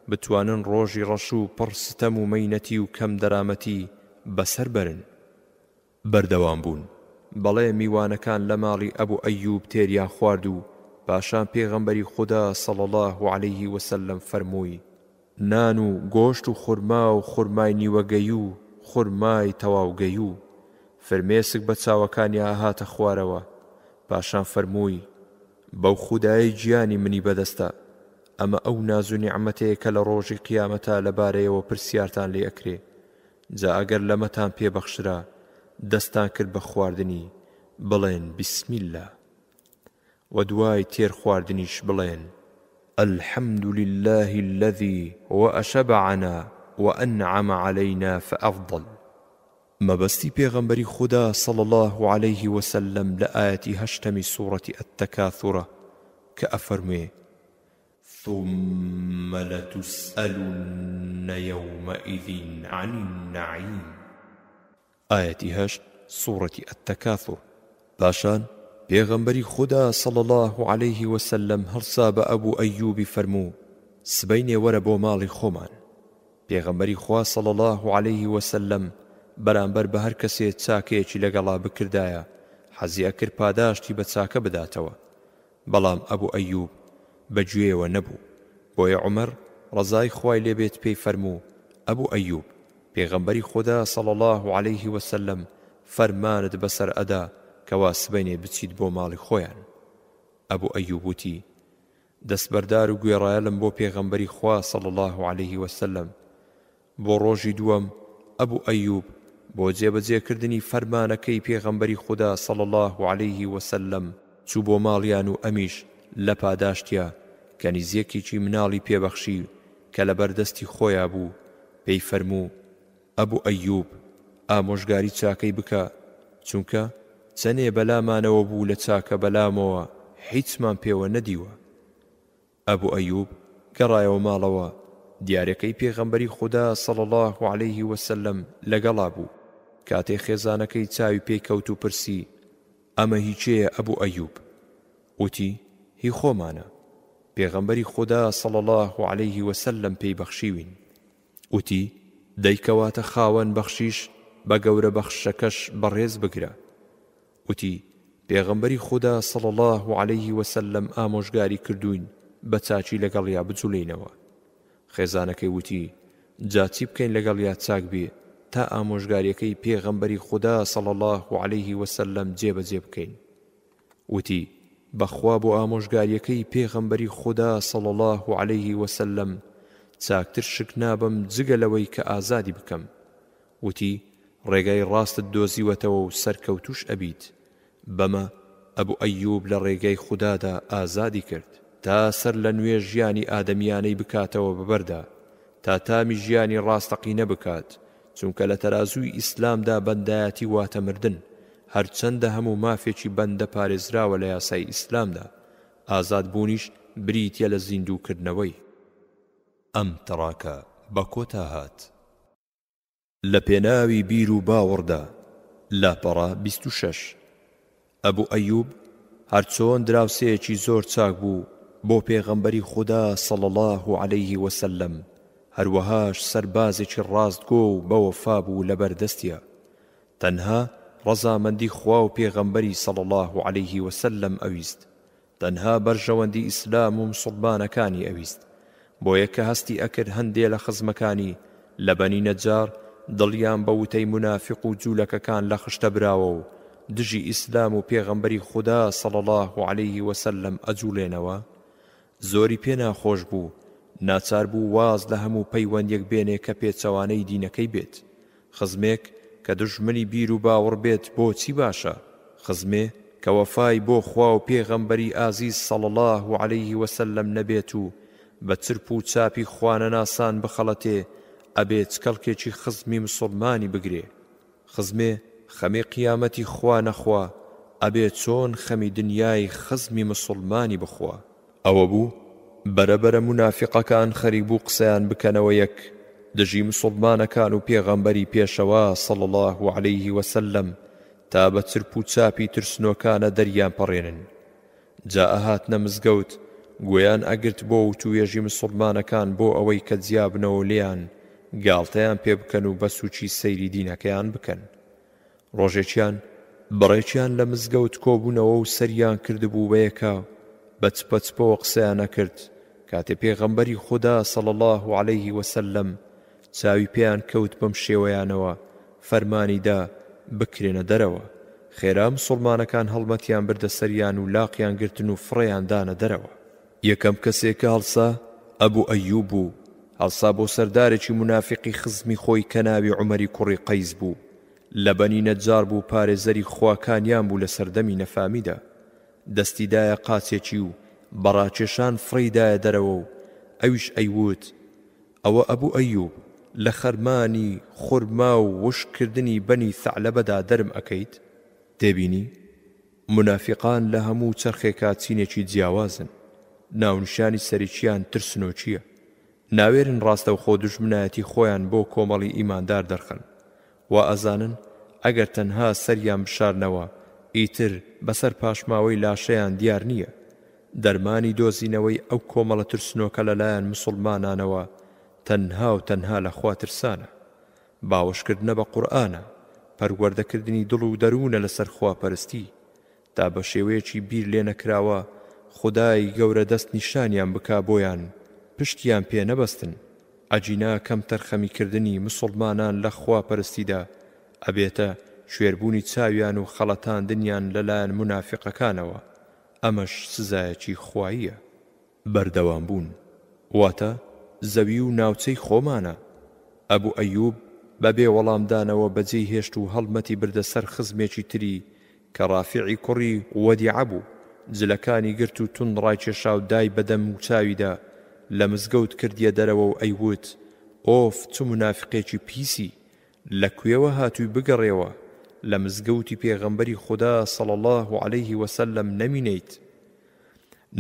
بتوانن ڕۆژی ڕەش و پڕ ستەم و مەینەتی و کەم دەرامەتی بەسەر بەرن. بەردەوام بوون. بەڵێ میوانەکان لە ماڵی ئەبو ئەیوب تێریان خوارد و پاشان پێغەمبەری خودا صلی اللە علیە وسلم فەرمووی، نان و گۆشت و خورما و خورمای نیوەگەی و خورمای تەواوگەی و فرمێسک بە چاوەکانیا ئەهاتە خوارەوە، پاشان فەرمووی، بەو خودایەی گیانی منی بەدەستە، ئەمە ئەو ناز و نیعمەتەیە کە لە ڕۆژی قیامەتا لەبارەیەوە پرسیارتان لێ ئەکرێ جا ئەگەر لەمەتان پێ بەخشرا دەستتان کرد بە خواردنی بڵێن بسم اللە وە دوای تێر خواردنیش بڵێن، الحمد للە الذی واشبعنا وانعم علینا فافضل. مەبەستی پێغەمبەری خودا صلی اللە علیه وسلم لە ئایەتی هەشتەمی سورەتی التکاثرە کە ئەفەرموێ، ثم لتسئلن یومئذ عن النعیم ئایەتی هەشت سوڕەتی التکاثر پاشان پێغەمبەری خودا صلی اللە علیه وسلم هەڵسا بە ئەبو ئەیوبی فەرموو سبەینێ وەرە بۆ ماڵی خۆمان پێغەمبەری خوا صلی اللە علیه وسلم بەرامبەر بە هەر کەسێ چاکەیەکی لەگەڵا بکردایە حەزی ئەکرد پاداشتی بە چاکە بداتەوە بەڵام ئەبو ئەیوب بە گوێیەوە نەبوو، بۆیە عومەر ڕەزای خوای لێ بێت پێی فەرموو، ئەبو ئەیوب، پێغەمبەری خودا صلی اللە علیە و سلم فەرمانت بەسەر ئەدا کەوا سبەینێ بچیت بۆ ماڵی خۆیان. ئەبو ئەیوب وتی، دەستبەردار و گوێڕایەلم بۆ پێغەمبەری خوا صلی اللە علیە و سلم، بۆ ڕۆژی دووەم ئەبو ئەیوب بۆ جێبەجێ کردنی فەرمانەکەی پێغەمبەری خودا صلی اللە علیە وسلم چوو بۆ ماڵیان و ئەمیش لە پاداشتیا کەنیزێکێکی مناڵی پێ بەخشی کە لەبەر دەستی خۆیا بوو پێی فەرموو ئەبو ئەیوب ئامۆژگاری چاکەی بکە چونکە چەنێ بەلامانەوە بوو لە چاکە بەلامەوە حیچمان پێوە نەدیوە ئەبو ئەیوب گەڕایەوە ماڵەوە، دیارەکەی پێغەمبەری خودا صلی اللە علیە وسلم لەگەڵا بوو، کاتێ خێزانەکەی چاوی پێی کەوت و پرسی، ئەمە هی کێیە ئەبو ئەیوب؟ وتی، هی خۆمانە، پێغەمبەری خودا صلی اللە علیە وسلم پێی بەخشیوین. وتی، دەی کەواتە خاوەن بەخشیش بە گەورە بەخششەکەش بەڕێز بگرە. وتی، پێغەمبەری خودا صلی اللە علیە وسلم ئامۆژگاری کردووین بە چاکی لەگەڵیا بجولێینەوە. خێزانەکەی وتی، جا چی بکەین لەگەڵیا چاک بێ تا ئامۆژگاریەکەی پێغەمبەری خودا صلی اللە علیە وسلم جێبەجێ بکەین؟ وتی، بەخوا بۆ ئامۆژگاریەکەی پێغەمبەری خودا صلی اللە علیە وسلم چاکتر شک نابەم جگە لەوەی کە ئازادی بکەم. وتی، ڕێگای ڕاستت دۆزیوەتەوە و سەرکەوتووش ئەبیت، بەمە ئەبو ئەیوب لە ڕێگای خودادا ئازادی کرد، تا سەرلەنوێ ژیانی ئادەمییانەی بکاتەوە بەبەردا، تا تامی ژیانی ڕاستەقینە بکات، چونکە لە تەرازووی ئیسلامدا بەندایەتی واتە مردن، هەرچەندە هەموو مافێکی بەندە پارێزراوە لە یاسای ئیسلامدا، ئازادبوونیش بریتییە لە زیندووکردنەوەی. ئەم تڕاکە بە کۆتا هات. لە پێناوی بیر و باوەڕدا، لاپەڕە بیست و شەش. ئەبو ئەیوب هەرچۆن دراوسێیەکی زۆر چاک بوو بۆ پێغەمبەری خودا صلی اللە علیە وسلم هەروەهاش سەربازێکی ڕاستگۆ و بەوەفا بوو لەبەردەستیا تەنها ڕەزامەندی خوا و پێغەمبەری صلی اللە علیە وسلم ئەویست تەنها بەرژەوەندی ئیسلام و مسوڵمانەکانی ئەویست بۆیە کە هەستی ئەکرد هەندێ لە خزمەکانی لە بەنی نەجار دڵیان بە وتەی مونافیق و جولەکەکان لە خشتە براوە و دژی ئیسلام و پێغەمبەری خودا صلی اللە علیە وسلم ئەجوڵێنەوە زۆری پێ ناخۆش بوو ناچار بوو واز لە هەموو پەیوەندیەک بێنێ کە پێچەوانەی دینەکەی بێت خزمێک کە دوژمنی بیر و باوڕ بێت بۆ چی باشە؟ خزمێ کە وەفای بۆ خوا و پێغەمبەری ئازیز صلی اللە علیە وسلم نەبێت و بە چرپ و چاپی خوانەناسان بخەڵەتێ ئەبێ چ کەڵکێکی خزمی مسوڵمانی بگرێ؟ خزمێ خەمی قیامەتی خوا نەخوا ئەبێ چۆن خەمی دنیای خزمی مسوڵمانی بخوا؟ ئەوەبوو بەرە بەرە مونافیقەکان خەریک بوو قسەیان بکەنەوە یەک دژی مسوڵمانەکان و پێغەمبەری پێشەوا صلی اللە علیە وسلم تا بە چرپ و چاپی ترسنۆکانە دەریان پەڕێنن جا ئەهاتنە مزگەوت گوێیان ئەگرت بۆ وتوێژی مسوڵمانەکان بۆ ئەوەی کە جیابنەوە لێیان گاڵتەیان پێ بکەن و بەسوچی سەیری دینەکەیان بکەن ڕۆژێکیان بڕێکیان لە مزگەوت کۆبوونەوە و سەریان کردبوو بە یەکا بە چپە چپەوە قسەیان ئەکرد کاتێ پێغەمبەری خودا صلی اللە علیە وسلم چاوی پێیان کەوت بەم شێوەیانەوە فەرمانی دا بکرێنە دەرەوە خێرا مسوڵمانەکان هەڵمەتیان بردە سەریان و لاقیان گرتن و فڕێیان دانە دەرەوە یەکەم کەسێ کە هەڵسا ئەبو ئەیوب بوو هەڵسا بۆ سەردارێکی مونافیقی خزمی خۆی کە ناوی عومەری کوڕی قەیس بوو لە بەنی نەجار بوو پارێزەری خواکانیان بوو لە سەردەمی نەفامیدا دەستی دایە قاچێکی و بە ڕاکێشان فڕێی دایە دەرەوە و ئەویش ئەیووت ئەوە ئەبو ئەیوب لە خەرمانی خورما و وشک کردنی بەنی ثەعلەبەدا دەرم ئەکەیت؟ تێبینی، مونافیقان لە هەموو چەرخێکا چینێکی جیاوازن، ناونیشانی سەرکییان ترسنۆکییە، ناوێرن ڕاستەوخۆ دوژمنایەتی خۆیان بۆ کۆمەڵی ئیماندار دەرخەن، وائەزانن ئەگەر تەنها سەریان بشارنەوە ئیتر بەسەر پاشماوەی لاشەیان دیار نییە، دەرمانی دۆزینەوەی ئەو کۆمەڵە ترسنۆکە لەلایان مسوڵمانانەوە تەنهاو تەنها لە خوا ترسانە، باوەشکردنە بە قورئانە، پەروەردەکردنی دڵ و دەروونە لەسەر خواپەرستی، تا بەشێوەیەکی بیر لێنەکراوە خودای گەورە دەست نیشانیان بکا بۆیان پشتیان پێ نەبەستن، ئەگینا کەمتەرخەمی کردنی مسوڵمانان لە خواپەرستیدا ئەبێتە کوێربوونی چاویان و خەڵەتاندنیان لەلایەن مونافیقەکانەوە، ئەمەش سزایەکی خواییە. بەردەوام بوون واتە زەوی و ناوچەی خۆمانە. ئەبو ئەیوب بە بێ وەڵام دانەوە بەجێی هێشت و هەڵمەتی بردە سەر خزمێکی تری کە ڕافیعی کوڕی وەدیعە بوو، جلەکانی گرت و توند ڕایکێشاو دای بە دەم وچاویدا، لە مزگەوت کردیە دەرەوە و ئەیووت، ئۆف چ مونافقێکی پیسی، لە کوێوە هاتووی بگەڕێوە، لە مزگەوتی پێغەمبەری خودا صلی اللە علیه وسلم نەمینێیت.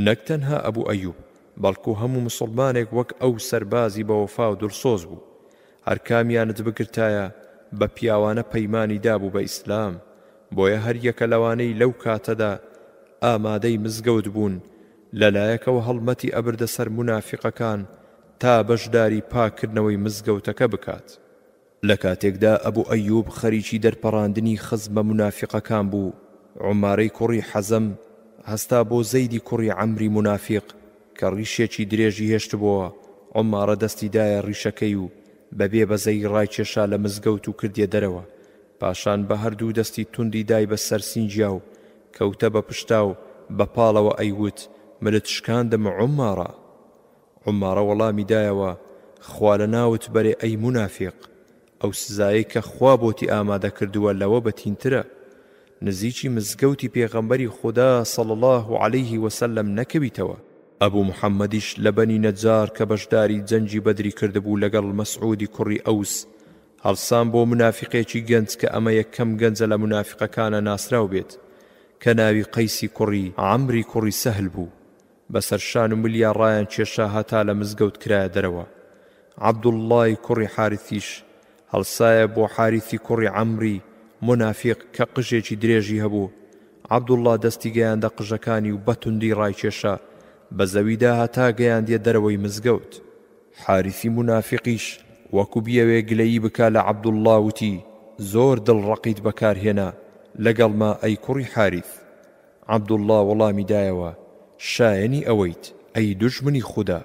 نەک تەنها ئەبو ئەیوب بەڵکو هەموو موسڵمانێک وەک ئەو سەربازی بەوەفا و دڵسۆز بوو هەرکامیانت بگرتایە بە پیاوانە پەیمانی دابوو بە ئیسلام بۆیە هەریەکە لەوانەی لەو کاتەدا ئامادەی مزگەوت بوون لەلایەکەوە هەڵمەتی ئەبردە سەر مونافیقەکان تا بەشداری پاککردنەوەی مزگەوتەکە بکات لە کاتێکدا ئەبو ئەیوب خەریکی دەرپەڕاندنی خزمە مونافیقەکان بوو، عومارەی کوڕی حەزەم هەستا بۆ زەیدی کوڕی عەمری مونافیق کە ڕیشێکی درێژی هێشتبۆوە، عومارە دەستی دایە ڕیشەکەی و بە بێ بەزەیی ڕایکێشا لە مزگەوت و کردیە دەرەوە، پاشان بە هەردوو دەستی توندی دای بە سەر سینگیا و کەوتە بە پشتا و بە پاڵەوە ئەیوت، ملت شکاندم عومارە! عومارە وەڵامی دایەوە، خوا لە ناوت بەرێ ئەی مونافیق، ئەو سزایەی کە خوا بۆتی ئامادە کردووە لەوە بەتینترە، نزیکی مزگەوتی پێغەمبەری خودا صلی اللە علیە وسلم نەکەویتەوە. ئەبو محمدیش لە بەنی نەجار کە بەشداری جەنگی بەدری کردبوو لەگەڵ مەسعودی کوڕی ئەوس، هەڵسان بۆ مونافیقێکی گەنج کە ئەمە یەکەم گەنجە لە مونافیقەکانە ناسراو بێت کە ناوی قەیسی کوڕی عەمری کوڕی سەهل بوو، بەسەر شان و ملیا ڕایانکێشا هەتا لە مزگەوت کرایە دەرەوە. عەبدوڵڵای کوڕی حارثیش هەڵسایە بۆ حارثی کوڕی عەمری مونافیق کە قژێکی درێژی هەبوو، عەبدوڵڵا دەستی گەیاندە قژەکانی و بە توندی ڕایکێشا بە زەویدا هەتا گەیاندیە دەرەوەی مزگەوت. حارثی مونافیقیش وەکو بیەوێ گلەیی بکا لە عەبدوڵڵا وتی، زۆر دڵ ڕەقیت بەکار هێنا لەگەڵما ئەی کوڕی حارث. عەبدوڵڵا وەڵامی دایەوە، شایەنی ئەوەیت، ئەی دوژمنی خودا،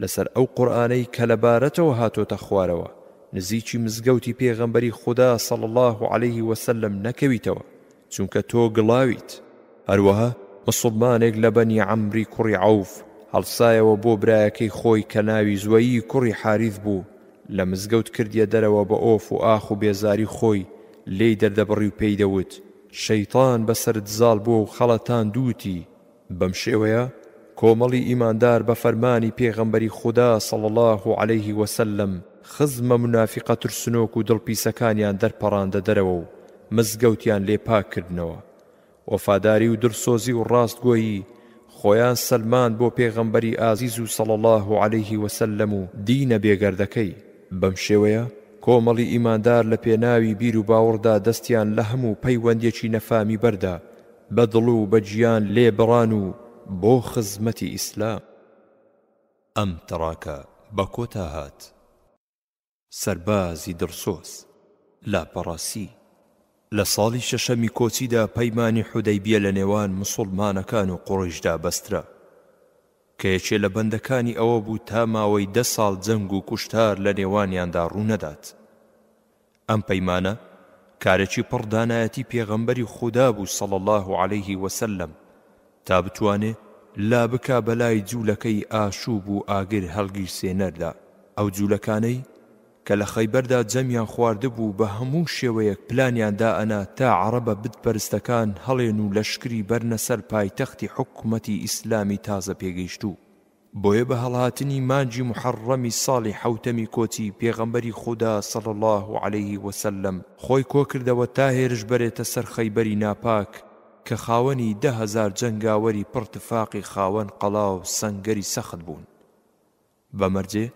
لەسەر ئەو قورئانەی کە لە بارەتەوە هاتۆتە خوارەوە، نزیکی مزگەوتی پێغەمبەری خودا صلی اللە علیه وسلم نەکەویتەوە، چونکە تۆ گڵاویت. هەروەها موسڵمانێک لە بەنی عەمری کوڕی عەوف هەڵسایەوە بۆ برایەکەی خۆی کە ناوی زوەیی کوڕی حاریث بوو، لە مزگەوت کردیە دەرەوە بە ئۆف و ئاخ و بێزاری خۆی لێی دەردەبڕی و پێی دەوت، شەیتان بەسەرت زاڵ بووە و خەڵەتاندووتی. بەم شێوەیە کۆمەڵی ئیماندار بە فەرمانی پێغەمبەری خودا صلی اللە علیە وسلم خزمە مونافیقە ترسنۆک و دڵ پیسەکانیان دەرپەڕاندە دەرەوە و مزگەوتیان لێ پاک کردنەوە. وەفاداری و دڵسۆزی و ڕاستگۆیی خۆیان سەلماند بۆ پێغەمبەری ئازیز و صلی اللە علیە وسلم و دینە بێگەردەکەی. بەم شێوەیە کۆمەڵی ئیماندار لە پێناوی بیر و باوڕدا دەستیان لە هەموو پەیوەندیەکی نەفامی بەردا، بە دڵ و بە گیان لێ بڕان و بۆ خزمەتی ئیسلام. ئەم تڕاکە بە کۆتا هات. سەربازی دڵسۆز، لاپەڕەسی، لە ساڵی شەشەمی کۆچیدا پەیمانی حودەیبیە لە نێوان مسوڵمانەکان و قوڕەیشدا بەسترا. کە یەکێ لە بەندەکانی ئەوە بوو تا ماوەی دە ساڵ جەنگ و کوشتار لە نێوانیاندا ڕوو نەدات. ئەم پەیمانە کارێکی پڕ دانایەتی پێغەمبەری خودا بوو صلی اللە علیە وسلم تا بتوانێ لا بکا بەلای جوولەکەی ئاشووب و ئاگر هەڵگیرسێنەردا ئەو جوولەکانەی کە لە خەیبەردا جەمیان خواردبوو بە هەموو شێوەیەک پلانیان دائەنا تا عەڕەبە بت پەرستەکان هەڵێن و لەشکری بەرنە سەر پایتەختی حکومەتی ئیسلامی تازە پێگەیشتوو بۆیە بە هەڵهاتنی مانگی محەڕڕەمی ساڵی حەوتەمی کۆچی پێغەمبەری خودا صلی اللە علیە وسلم خۆی کۆکردەوە تا هێرش بەرێتە سەر خەیبەری ناپاک کە خاوەنی دە هەزار جەنگاوەری پڕ تفاقی خاوەن قەڵاو سەنگەری سەخت بوون. بەمەرجێ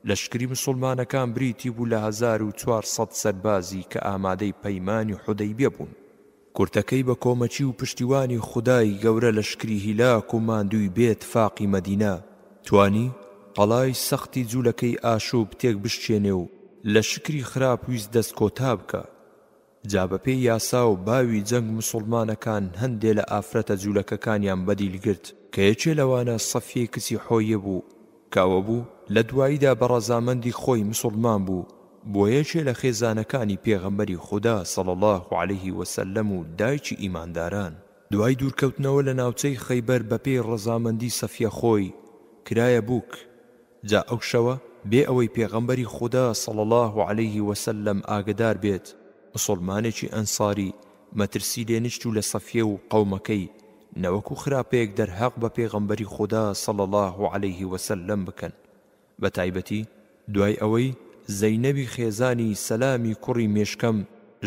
لەشکری مسوڵمانەکان بریتی بوو لە هەزار و چوار سەد سەربازی کە ئامادەی پەیمانی حودەیبیە بوون. کورتەکەی بە کۆمەکی و پشتیوانی خودای گەورە لەشکری هیلاک و ماندووی بێ تفاقی مەدینە توانی قەڵای سەختی جولەکەی ئاشوب تێک بشکێنێ و لەشکری خراپ ویست دەست کۆتا بکا جا بەپێی یاسا و باوی جەنگ موسوڵمانەکان هەندێ لە ئافرەتە جولەکەکانیان بەدیل گرت کە یەکێ لەوانە سەفیەی کچی حۆیە بوو کە ئەوە بوو لە دواییدا بە ڕەزامەندی خۆی موسوڵمان بوو بووە یەکێ لە خێزانەکانی پێغەمبەری خودا صلی اللە علیە وسلم و دایکی ئیمانداران دوای دوورکەوتنەوە لە ناوچەی خەیبەر بەپێی ڕەزامەندی سەفیە خۆی کرایە بووک جا ئەو شەوە بێ ئەوەی پێغەمبەری خودا صلی اللە علیە وسلم ئاگەدار بێت مسوڵمانێکی ئەنصاری مەترسی لێ نشت و لە صفیە و قەومەکەی نەوەکو خراپەیەک دەرهەق بە پێغەمبەری خودا صلی اللە علیە وسلم بکەن بەتایبەتی دوای ئەوەی زەینەبی خێزانی سەلامی کوڕی مێشکەم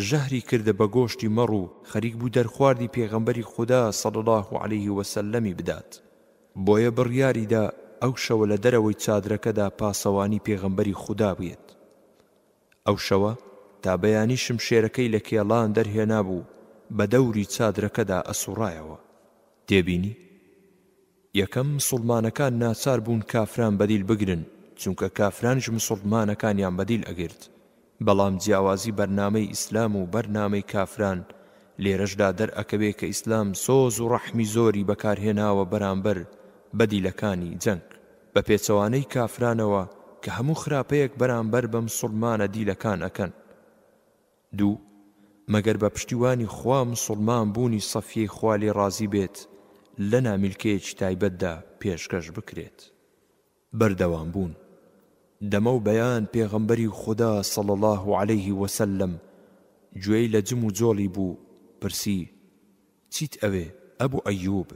ژەهری کردە بە گۆشتی مەڕ و خەریک بوو دەرخواردی پێغەمبەری خودا صلی اللە علیە وسلم بدات بۆیە بڕیاری دا ئەو شەوە لە دەرەوەی چادرەکەدا پاسەوانی پێغەمبەری خودا بێت. ئەو شەوە تا بەیانی شمشێرەکەی لە کێڵان دەرهێنابوو بە دەوری چادرەکەدا ئەسوڕایەوە. تێبینی، یەکەم، مسوڵمانەکان ناچار بوون کافران بەدیل بگرن، چونکە کافرانیش مسوڵمانەکانیان بەدیل ئەگرت، بەڵام جیاوازی بەرنامەی ئیسلام و بەر نامەی کافران لێرەشدا دەر ئەکەوێ کە ئیسلام سۆز و ڕەحمی زۆری بەکار هێناوە بەرامبەر بەدیلەکانی جەنگ بە پێچەوانەی کافرانەوە کە هەموو خراپەیەک بەرامبەر بە مسوڵمانە دیلەکان ئەکەن دوو مەگەر بە پشتیوانی خوا مسوڵمان بوونی صەفیەی خوا لێ ڕازی بێت لە نامیلکەیەکی تایبەتدا پێشکەش بکرێت. بەردەوام بوون دەمە و بەیان پێغەمبەری خودا صلی اللە علیە وسلم گوێی لە جم و جۆڵی بوو پرسی، چیت ئەوێ ئەبو ئەیوب؟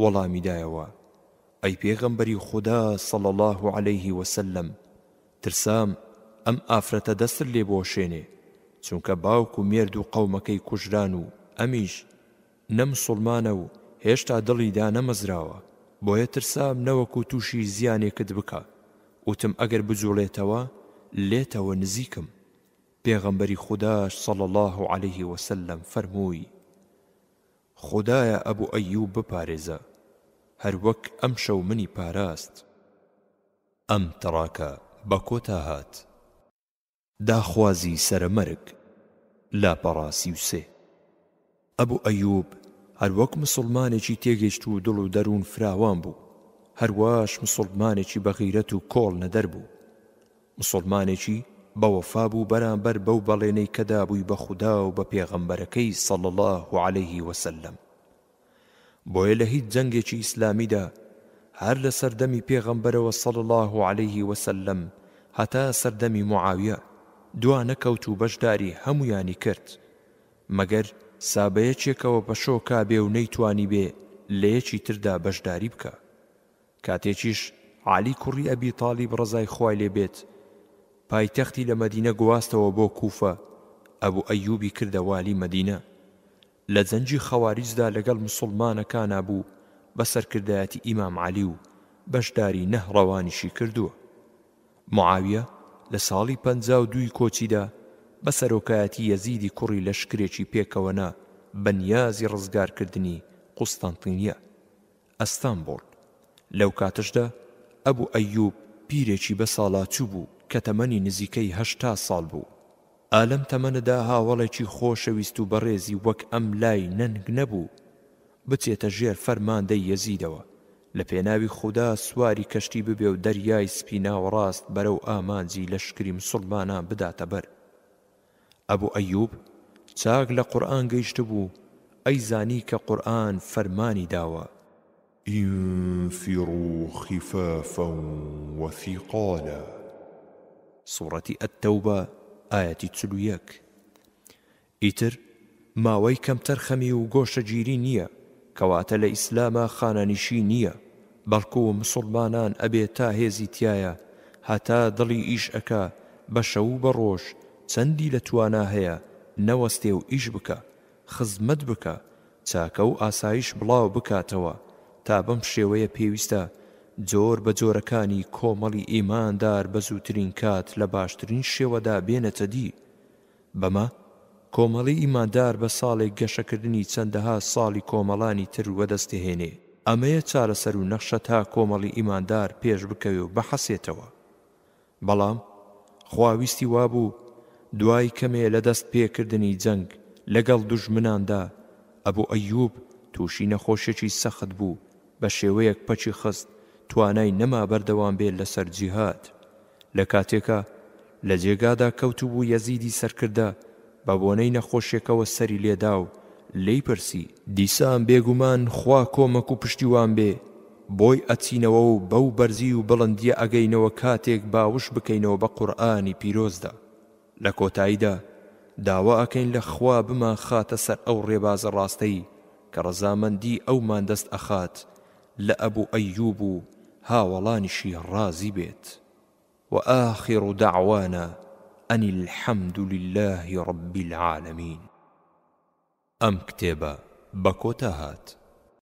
وەڵامی دایەوە، ئەی پێغەمبەری خودا صلی اللە علیە وسلم ترسام ئەم ئافرەتە دەستت لێ بوەشێنێ چونکە باوک و مێرد و قەومەکەی کوژران و ئەمیش نە مسوڵمانە و هێشتا دڵی دانەمەزراوە، بۆیە ترسام نەوەکو تووشی زیانێکت بکا، وتم ئەگەر بجوڵێتەوە لێتەوە نزیکم، پێغەمبەری خوداش صلی اللە علیە وسلم فەرمووی، خودایە ئەبو ئەیوب بپارێزە، هەروەک ئەمشەو منی پاراست. ئەم تڕاکە بەکۆتا هات. داخوازی سەرە مەرگ، لاپەڕە سی و سێ. ئەبو ئەیوب هەر وەک مسوڵمانێکی تێگەیشتوو دڵ و دەروون فراوان بوو، هەر واش مسوڵمانێکی بە غیرەت و کۆڵ نەدەر بوو. مسوڵمانێکی بە وەفا بوو بەرامبەر بەو بەڵێنەی کە دابووی بە خودا و بە پێغەمبەرەکەی صلی اللە علیه وسلم. بۆیە لە هیچ جەنگێکی ئیسلامیدا هەر لە سەردەمی پێغەمبەرەوە صلی اللە علیه وسلم هەتا سەردەمی معاویە دوا نەکەوت و بەشداری هەموویانی کرد مەگەر سا بە یەکێکەوە پەشۆ کابێ و نەیتوانیبێ لە یەکی تردا بەشداری بکا کاتێکیش عەلی کوڕی ئەبی تالیب ڕەزای خوای لێ بێت پایتەختی لە مەدینە گواستەوە بۆ کوفە ئەبو ئەیوبی کردە والی مەدینە لە جەنگی خەواریجدا لەگەڵ مسوڵمانەکانا بوو بە سەرکردایەتی ئیمام عەلی و بەشداری نەهڕەوانیشی کردووە. معاویە لە ساڵی پەنجا و دووی کۆچیدا بە سەرۆکایەتی یەزیدی کوڕی لەشکرێکی پێکەوە نا بە نیازی ڕزگارکردنی قوستەنتینیە. ئەستەنبوڵ، لەو کاتەشدا ئەبو ئەیوب پیرێکی بە ساڵاچو بوو کە تەمەنی نزیکەی هەشتا ساڵ بوو. ئا لەم تەمەنەدا هاوەڵێکی خۆشەویست و بەڕێزی وەک ئەم لای نەنگ نەبوو بچێتە ژێر فەرماندەی یەزیدەوە لە پێناوی خودا سواری کەشتی ببێ و دەریای سپی ناوەڕاست بەرەو ئامانجی لەشکری مسوڵمانان بداتە بەر ئەبو ئەیوب چاک لە قورئان گەیشتبوو ئەیزانی کە قورئان فەرمانی داوە. انفروا خفافا وثقالا. سورەتی التوبە ئایەتی چل و یەک ئیتر ماوەی کەم تەرخەمی و گۆشەگیری نیە کەواتە لە ئیسلاما خانەنیشی نیە بەڵکو مسوڵمانان ئەبێ تا هێزی تیایە هەتا دڵی ئیش ئەکا بە شەو و بە ڕۆژ چەندی لە توانا هەیە نەوەستێ و ئیش بکا خزمەت بکا چاکە و ئاسایش بڵاو بکاتەوە تا بەم شێوەیە پێویستە جۆر بە جۆرەکانی کۆمەڵی ئیماندار بە زووترین کات لە باشترین شێوەدا بێنێتە دی. بەمە کۆمەڵی ئیماندار بە ساڵێک گەشەکردنی چەندەها ساڵی کۆمەڵانی تر وەدەست دەهێنێ، ئەمەیە چارەسەر و نەخشە تا کۆمەڵی ئیماندار پێش بکەوێ و بحەسێتەوە. بەڵام خوا ویستی وابوو دوای کەمێ لە دەست پێ کردنی جەنگ لە گەڵ دوژمناندا ئەبو ئەیوب تووشی نەخۆشیەکی سەخت بوو بە شێوەیەک پەکی خست توانای نەما بەردەوام بێ لە سەر جیهاد لە کاتێکا لە جێگادا کەوتبوو یەزیدی سەرکردە بە بۆنەی نەخۆشیەکەوە سەری لێدا و لێی پرسی، دیسان بێگومان خوا کۆمەک و پشتیوان بێ بۆی ئەچینەوە و بەو بەرزی و بڵندیە ئەگەینەوە کاتێک باوش بکەینەوە بە قورئانی پیرۆزدا لە کۆتاییدا داوا ئەکەین لە خوا بمانخاتە سەر ئەو ڕێبازە ڕاستەی کە ڕەزامەندی ئەومان دەست ئەخات لە ئەبو ئەیوب و هاوەڵانیشی ڕازی بێت وآخر دعوانا ان الحمد للە رب العالمین ئەم کتێبە بە کۆتا هات.